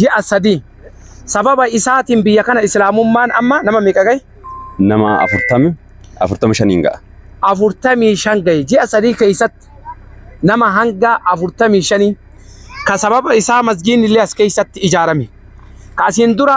ji'a sadii sababa isaatiin biyya kana islaamummaan amma nama meeqa gahe? Nama afurtami afurtama shaniin ga'a. afurtamii shan gahe ji'a sadii keessatti nama hanga afurtamii shanii ka sababa isaa masgiinni illee as keessatti ijaarame ka asiin dura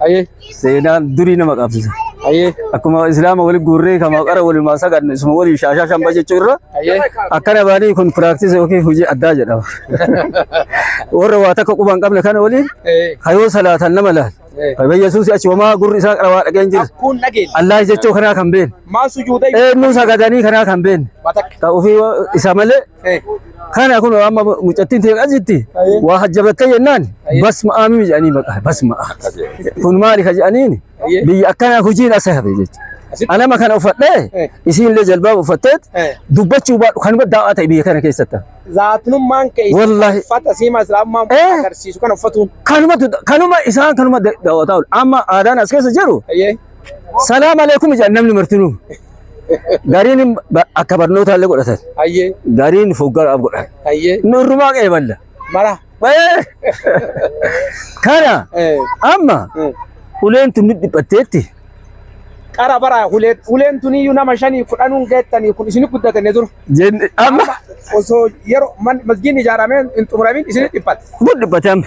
Hayyee. Seenaan durii nama qabsisa. Hayyee. Akkuma Islaama waliin guurree kama qara waliin saganne isuma waliin shaashaa shamba jechuu irra Hayyee. akkana baanii kun piraaktis yookiin hojii addaa jedhama. Warra waa takka quba hin qabne kana waliin Eh, hayoo salaatan nama laal. eh. Fayyaa Yesuus achi wamaa gurri isaa qara waa dhageen jira. Kun dhageenya. Allaah jechuu kanaa kan beekne. Maa sujuuda Eenyuu sagadanii kanaa kan beekne. Matakka. Ta'uufii isa malee Kana kun amma mucattiin ta'e asitti waa hajjabattee jennaan basma aamii jedhanii maqaa basma kun maali ka jedhaniin biyya akkanaa hojiin asa hafe jecha. Anama kana uffadhee isiin illee jalbaaba uffatteet dubbachuu baadhu kan baddaa waa ta'e biyya kana keessatti. Zaatinummaan kee Wallahi. uffata siima islaamummaa Eh. agarsiisu kana uffatuun. Kanuma kanuma isaan kanuma daawwataa oolu. Amma aadaan as keessa jiru Ayyee. Salaam aleekum jedhan namni martinuu. Gariin hin- ba- akka barnootaa illee godhatan. Hayyee. Gariin foggaraaf godhan. Hayyee. Nurrumaa qeeballa. Mara. Bayee! Kana Eh. amma eh. uleen tun dhiphatteetti. Qara bara hulee huleen tuniyyuu nama shanii kudhanuun geettanii kun isin guddatanii dur. Jenne amma Osoo yeroo man- masgiin ijaaramee hin xumuramin isin dhiphate. kun dhiphate amma.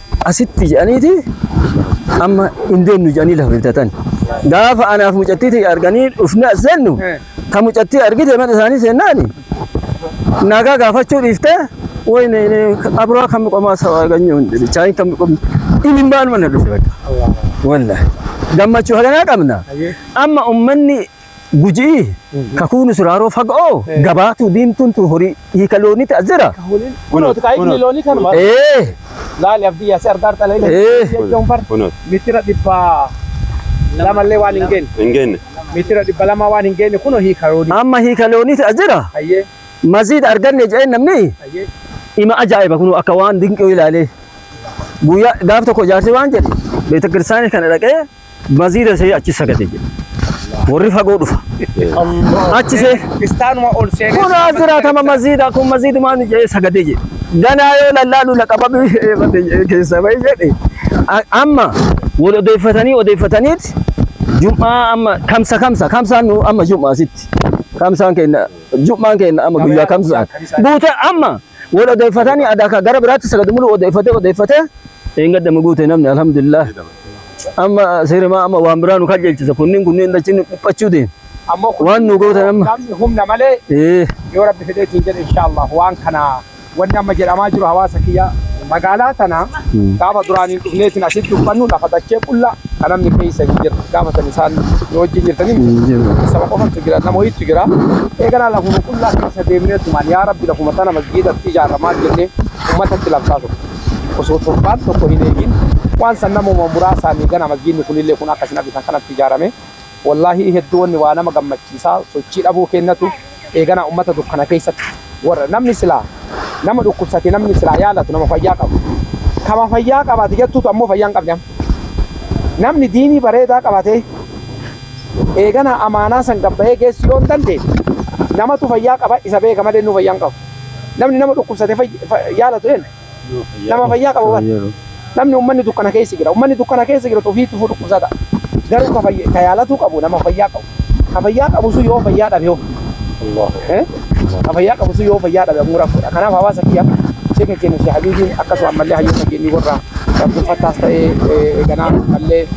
asitti jedhaniiti amma hin deemnu jedhanii lafa bitatan. Gaafa anaaf mucattii ta'e arganii dhufne as seennu ta mucattii argite mana isaanii seennaani nagaa gaafachuu dhiiftee wayne abraa kan qomaa sawa arganyuu hin dhibi chaayin kan qomu ilmaan mana dhufe bakka. Wallah gammachuu haganaa qabna amma ummanni Guji'i kakuu nu siraaroo fagoo gabaatuu diimtuun tun horii hiika looniiti as jira. Kunin kunooti kaa inni loonii kanuma. Ee Laali abdii yaasi argaa argaa laali. Eh. Jechuun bar Kunooti. mitira dhibba lamallee waan hin geenye. Hin geenye. Mitira dhibba lamaa waan hin geenye kunoo hiika loonii. amma hiika looniiti as jira. Hayyee Maziid arganne jedheen namni hayyee. ima ajaa'iba kunuu akka waan dinqii ilaalee. Guyyaa gaaf tokko jaarsi waan jedhe beetakirsaanii kana dhaqee Masjiida see achi sagade jedhe. Warri fagoo dhufa. Achi see. Istaanuma ol seenee. Kun as jiraatama masjiida kun masjiidumaan jedhee sagade jedhe. Ganaa yoo lallaalu laqababii eebate jedhee keessa bahi jedhe. A- Amma wal odeeffatanii odeeffataniit jum'aa amma kamsa kamsa kamsaan nu amma jum'aa sitti. Kamsaan keenya jum'aan keenya amma guyyaa kamsaan. Buute amma Wal odeeffatanii aadaa kan gara biraatti sagadu muluu odeeffatee odeeffatee eeggadda maguute namni alhamdulillah. Amma seerimaa amma waan biraa nu kajeelchisa kunniin kunniin dachiin nu dhiphachuu deema. Ammoo kun Waan nu gootan amma. namni humna malee Ee yoo rabbi fedheetiin jedhe inshaallah waan kana wanni amma jedhamaa jiru hawaasa kiyya magaalaa tana gaafa duraaniin dhufneetiin asitti uffannu lafa dachee qullaa Ka namni keessa hin jirre gaafa san isaan nu wajjin jirtanii miti. Saba qofatu jira nama wayiitu jira. Eeganaa lafuma qullaa keessa deemnee tumaan yaa rabbi lafuma tana masjiidatti ijaarra maal jennee ummatatti labsaa ture. Osoo torbaan tokko hin eegin waan san namuma muraasaanii ganaa masjiidni kunillee kun akka isin argitan kanatti ijaarame. Wollaahii hedduu wanni waa nama gammachiisa sochii dhabuu keennatu eeganaa ummata dukkana keessatti worra namni silaa nama dhukkubsate namni silaa yaalatu nama fayyaa qabu kama fayyaa qaba ati jettuutu ammoo fayyaa hin qabne amma namni diinii bareedaa qabatee eeganaa amaanaa san gabbayee geessuu yoo hin dandeenye namatu fayyaa qaba isa beeka malee innuu fayyaa hin qabu namni nama dhukkubsate yaalatu eennu Nama fayyaa qabu bar. Namni ummanni dukkana keessa jira. Ummanni dukkana keessa jiratu ofii tufuu dhukkubsata. Garuu ka fayya- ka yaalatuu qabu nama fayyaa qabu. Ka fayyaa qabu sun yoo fayyaa dhabe hoo? Eh? Ka fayyaa qabu sun yoo fayyaa dhabe ammoo rakkoodha. Kanaaf hawaasa kiyya sheeka keenya Sheekh Habiibiin akkasuma ammallee hayyoota keenya warra Abdul Fattaas ta'ee eh, eeganaa ammallee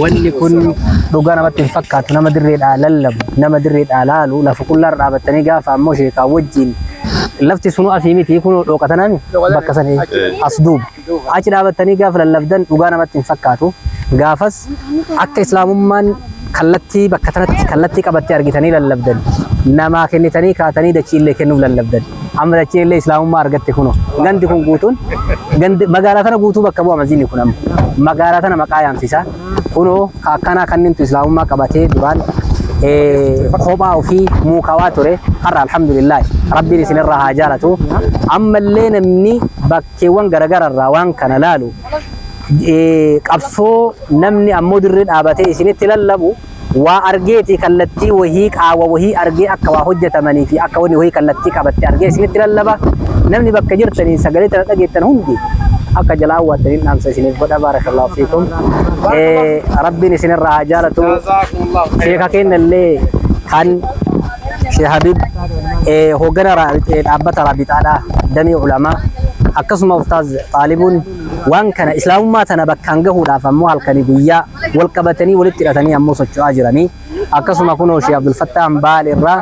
Wanni kun dhugaa namatti hin fakkaatu. Nama dirreedhaa lallabu, nama dirreedhaa laalu, lafa qullaarra dhaabattanii gaafa ammoo sheekaa wajjin lafti sunu asii miti kunoo dhooqa tanaa mi bakka san as duuba. Achi dhaabattanii gaafa lallabdan dhugaa namatti hin fakkaatu. Gaafas akka islaamummaan Kallattii bakka tanatti kallattii qabatte argitanii lallabdan. Namaa kennitanii kaatanii dachiillee kennuuf lallabdan. Amma dachiinillee Islaamummaa argatte kunoo. Gandi kun guutuun gandi magaalaa tana guutuu bakka bu'a masjiidni kun amma. Magaalaa tana maqaa yaamsisa. Kunoo ka akkanaa kannintu Islaamummaa qabatee duraan eh, kophaa ofii muukawaa ture. Har'a alhamdulillah rabbiin isinirraa haa jaalatu. Ammallee namni bakka bakkeewwan garagara irraa waan kana laalu qabsoo namni ammoo dirree dhaabatee isinitti lallabu waa argeeti kallattii wahii qaawwa wahii argee akka waa hojjetamanii fi akka wanni wahii kallattii qabatte argee isinitti lallaba namni bakka jirtanii sagalee tana dhageettan hundi akka jalaa awwaattaniin dhaamsa isiniif godha baarakallahu fiikum rabbiin isinirraa haa jaalatu sheeka keenya illee kan Sheikh Habib eh, hooggana ra- eh, dhaabbata Raabixaadha damee ulamaa akkasuma Ustaaz Xaalibuun waan kana islaamummaa tana bakkaan gahuudhaaf ammoo halkanii guyyaa wal qabatanii walitti hidhatanii ammoo socho'aa jiranii akkasuma kunoo Sheikh Abdul Fattah Ambaal irraa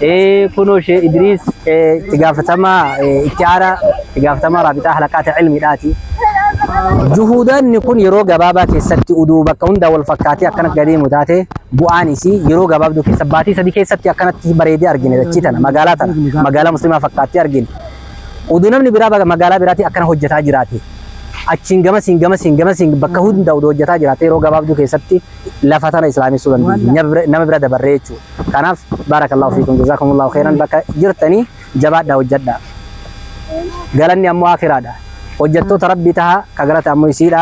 eh, kunoo Sheikh Idriis eh, itti gaafatamaa eh, itti aanaa itti gaafatamaa Raabixaa halaqaata ilmiidhaati. Juhuudaanni kun yeroo gabaabaa keessatti uduu bakka hundaa wal fakkaatee akkana gadeemu taate bu'aan isii yeroo gabaabduu keessa baatii sadii keessatti akkanatti bareedee argine dachii tana magaalaa tana magaalaa muslimaa fakkaattee argine oduu namni biraa baga- magaalaa biraatii akkana hojjetaa jiraate achiin gamasiin gamasiin gamasiin bakka hunda oduu hojjetaa jiraate yeroo gabaabduu keessatti lafa tana islaamessuu dandeenya Nama bira- nama bira dabarree jechuudha kanaaf baarakallahu fiikum jazaakumullahu khairan bakka jirtanii jabaadhaa hojjedhaa galanni ammoo akiraadha hojjettoota rabbii tahaa ka galata ammoo isiidha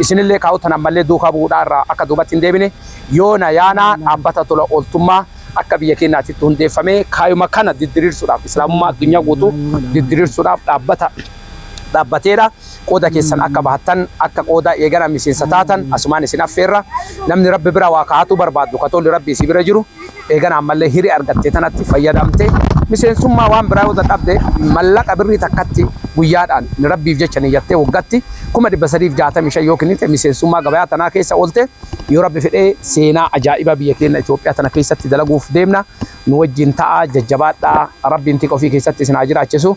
Isinillee kaa'uu tan ammallee duukaa bu'uudhaa irraa akka duubatti hin deebine yoona yaana dhaabbata tola ooltummaa akka biyya keenyaatitti hundeeffamee kaayuma kana diddiriirsuudhaaf Islaamummaa addunyaa guutuu diddiriirsuudhaaf dhaabbata dhaabbateedha. Qooda keessan akka bahattan akka qooda eegana miseensa taatan asumaan isin affeerra. Namni Rabbi bira waa kaa'atuu barbaaddu ka tolli Rabbii isii bira jiru. Eegana ammallee hiree argatte tanatti fayyadamte miseensummaa waan biraa yoo dadhabde mallaqa birrii takkatti guyyaadhaan Rabbiif jecha niyyattee waggatti 365,000 yoo kennite miseensummaa gabayaa tanaa keessa oolte yoo Rabbi fedhe seenaa ajaa'ibaa biyya keenna Itoophiyaa tana keessatti dalaguuf deemna nu wajjiin ta'aa jajjabaadhaa Rabbiin tika ofii keessatti isin haa jiraachisu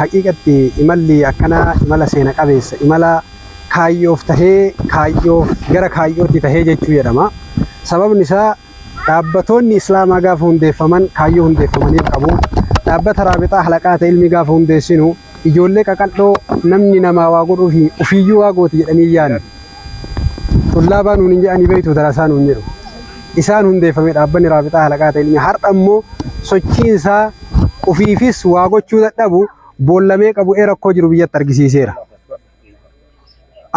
Haqiiqatti imalli akkanaa imala seena qabeessa, imala kaayyoof tahee, kaayyoof gara kaayyootti tahee jechuu jedhama. Sababni isaa dhaabbatoonni Islaamaa gaafa hundeeffaman kaayyoo hundeeffamaniif qabu. Dhaabbata Raabixaa Halaqaata Ilmii gaafa hundeessinu ijoollee qaqal'oo namni namaa waa godhuufi ufiiyyuu waa gooti jedhanii hin yaanne. Xullaabaa nuun hin jedhanii beektu darasaa nuun jedhu. Isaan hundeeffame dhaabbanni Raabixaa Halaqaa ta'e ilmi har'a immoo sochiin isaa ufiifis waa gochuu dadhabu boollamee qabu ee rakkoo jiru biyyatti argisiiseera.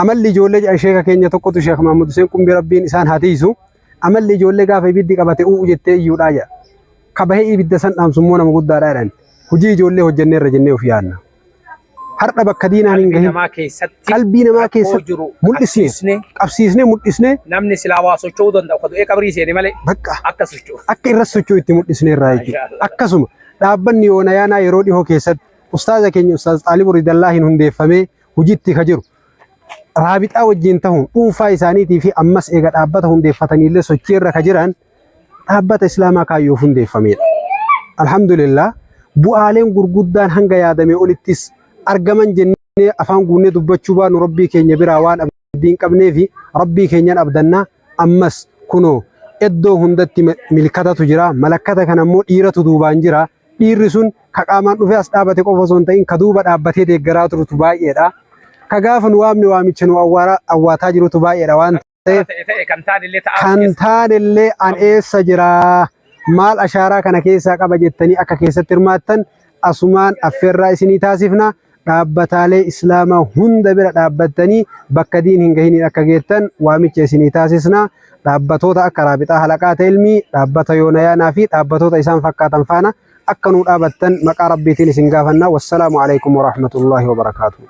Amalli ijoollee jedhan sheeka keenya tokkotu Sheek Mahmud Hussein Qumbii Rabbiin isaan haa tiisu. Amalli ijoollee gaafa ibiddi qabate u'u jettee iyyuudhaa jedha. Kabahee ibidda san dhaamsu immoo nama guddaadhaa jedhan. Hojii ijoollee hojjenneerra jennee of yaadna. har'a bakka diinaan hin gahin namaa keessatti qalbii namaa rakkoo keessatti jiru mul'isne qabsiisne qabsiisne mul'isne namni silaa waa socho'uu danda'u ka du'ee qabrii seene malee bakka akka socho'u. akka irra socho'u itti mul'isne irraa jechuudha. Mashallah. Akkasuma dhaabbanni yoona yaanaa yeroo dhihoo keessatti ustaaza keenya ustaaz Xaalib Ridallaa hin hundeeffamee hojiitti ka jiru. Raabixaa wajjin ta'uun dhuunfaa isaaniitii fi ammas eega dhaabbata hundeeffataniillee sochii irra ka jiran dhaabbata Islaamaa kaayyoof hundeeffamedha. Alhamdulillah bu'aaleen gurguddaan hanga yaadame olittis argaman jennee afaan guunnee dubbachuu baanu Rabbii keenya biraa waan abdii hin qabneefi Rabbii keenyan abdanna ammas kunoo eddoo hundatti milkatatu jira malakkata kana immoo dhiiratu duubaan jira dhiirri sun ka qaamaan dhufee as dhaabate qofa osoo hin ta'in ka duuba dhaabbatee deeggaraa turutu baay'eedha ka gaafa nu waamne waamicha nu awwaataa jirutu baay'eedha waan Kan taanellee an eessa jira maal ashaaraa kana keessaa qaba jettanii akka keessatti hirmaattan asumaan affeerraa isinii taasifna. Dhaabbataalee Islaamaa hunda bira dhaabbattanii bakka diin hin gahiniin akka geettan waamicha isinii taasisna. Dhaabbatoota akka Raabixaa Halaqaa Teelmii, Dhaabbata Yoonayaanaa fi dhaabbatoota isaan fakkaatan faana akka nuu dhaabattan maqaa Rabbiitiin isin gaafanna. Wassalaamu alaikum warahmatullahi wabarakaatuh.